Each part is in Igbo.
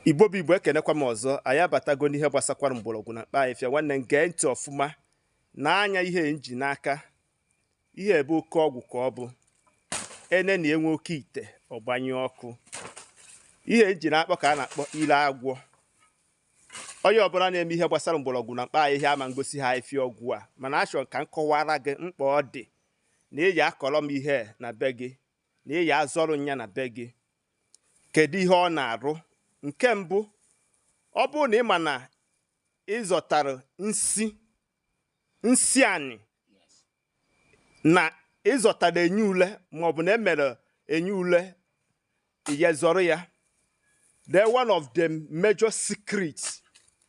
igbo bụ igbo ekenekwa m ọzọ anyị abatago n'ihe gbasakwara mgbọrọgwụ na mkpa ahịfịa nwanne m gee ntị ọfụma na nya ihe m ji n'aka ihe a bụ oke ọgwụ ka ọ bụ e nenịa nwa oke ite ọ gbanyụọ ọkụ ihe m ji n'aka ka a na-akpọ ile agwọ onye ọbụla na-eme ihe gbasara mgbọrọgwụ na mkpa ahịhịa ama ngosi ha ahịfịa ọgwụ a mana achọrọ ka m kọwara gị mkpa ọ dị na ị ya akọrọ m ihe na be gị na ị ya azọrọ ya na be gị kedu ihe ọ na-arụ nke mbụ ọ bụrụ na ị ma na ị zọtara nsi anị na ị zọtara enyi ule maọbụ na e mere enyi ule i ye zọrọ ya then one of the major secrets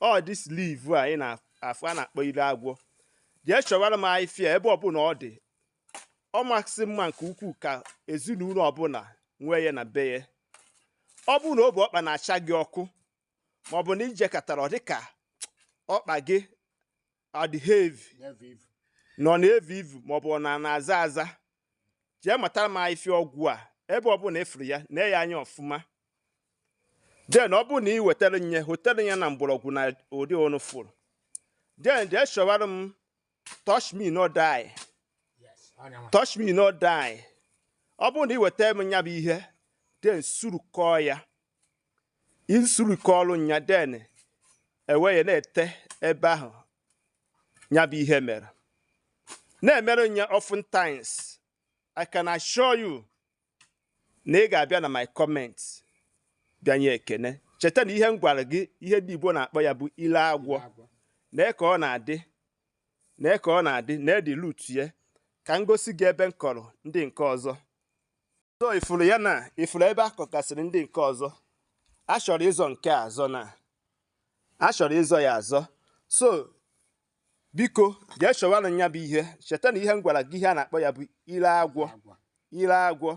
all this leaf a ị na-afụ a na-akpọ ile agwọ jee chọwara m ahịfịa ebe ọbụla ọ dị ọ masị mma nke ukwuu ka ezinụlọ ọbụla nwee ya na be ya ọ bụrụ na obi ọkpa na-acha gị ọkụ ma ọ bụ na i jekatara ọ dịka ọkpa gị adị heavy na ọ na-evu ivu ma ọ bụ na ọ na-aza aza jee matara m ahịfịa ọgwụ a ebe ọbụla ị fụrụ ya nee ya anya ọfụma then ọ bụrụ na ị wetara nya hotelu ya na mgbọrọgwụ n'ụdị unu fụrụ then jee chọwara m touch me no die touch me no die ọ bụrụ na ị weta m nya bụ ihe then surukọọ ya i surukọrọ nya then e wee ya na-ete ebe ahụ nya bụ ihe mere na-emere nya oftentimes I can assure you na ị ga-abịa na my comment bịa nye ekene cheta na ihe m gwara gị ihe ndị Igbo na-akpọ ya bụ ile agwọ nee ka ọ na-adị nee ka ọ na-adị needi root ya ka m gosi gị ebe m kọrọ ndị nke ọzọ so ị fụrụ ya na ị fụrụ ebe a kọkasịrị ndị nke ọzọ a chọrọ ịzọ nke a azọ na a chọrọ ịzọ ya azọ so biko jee chọwanụ ya bụ ihe cheta na ihe m gwara gị ihe a na-akpọ ya bụ ile agwọ ile agwọ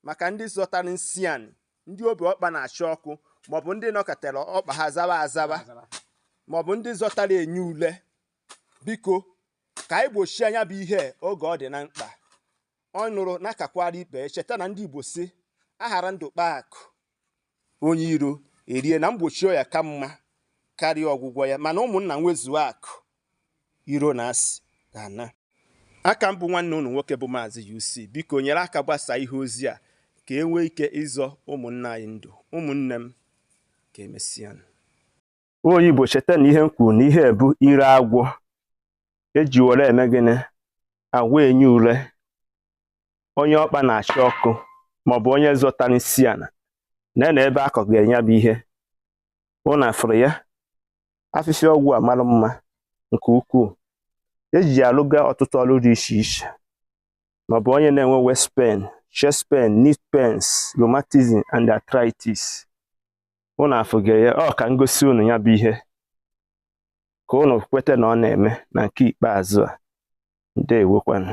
maka ndị zọtara nsi anị ndị obi ọkpa na-acha ọkụ maọbụ ndị nọkatara ọkpa ha zawa azawa maọbụ ndị zọtara enyi ule biko ka anyị gbochie nya bụ ihe oge ọ dị na mkpa ọ nụrụ nya kakwara ibe cheta na ndị igbo sị a ghara ndụ kpaa akụ onye iro erie na mgbochi ọya ka mma karịa ọgwụgwọ ya mana ụmụnna nwezuo akụ iro na asị ga-ana aka m bụ nwanne unu nwoke bụ maazị UC biko nyere aka gbasaa ihe ozi a ka e nwee ike ịzọ ụmụnna anyị ndụ ụmụnne m ka e mesịa onye Igbo cheta na ihe m kwuru na ihe a bụ ire agwọ eji were eme gịnị agwọ enyi ule onye ọkpa na-acha ọkụ maọbụ onye zọtara nsị ana na na ebe akọga nya bụ ihe ụnụ afụrụ ya afịfịa ọgwụ a mara mma nke ukwuu eji alụga ọtụtụ ọrụ dị iche iche maọbụ onye na-enwe waist pain chest pain knee pains rheumatism and arthritis unu afụga ya ọ ka m gosi unu ya bụ ihe ka unu kweta na ọ na-eme na nke ikpeazụ a ndewokwanụ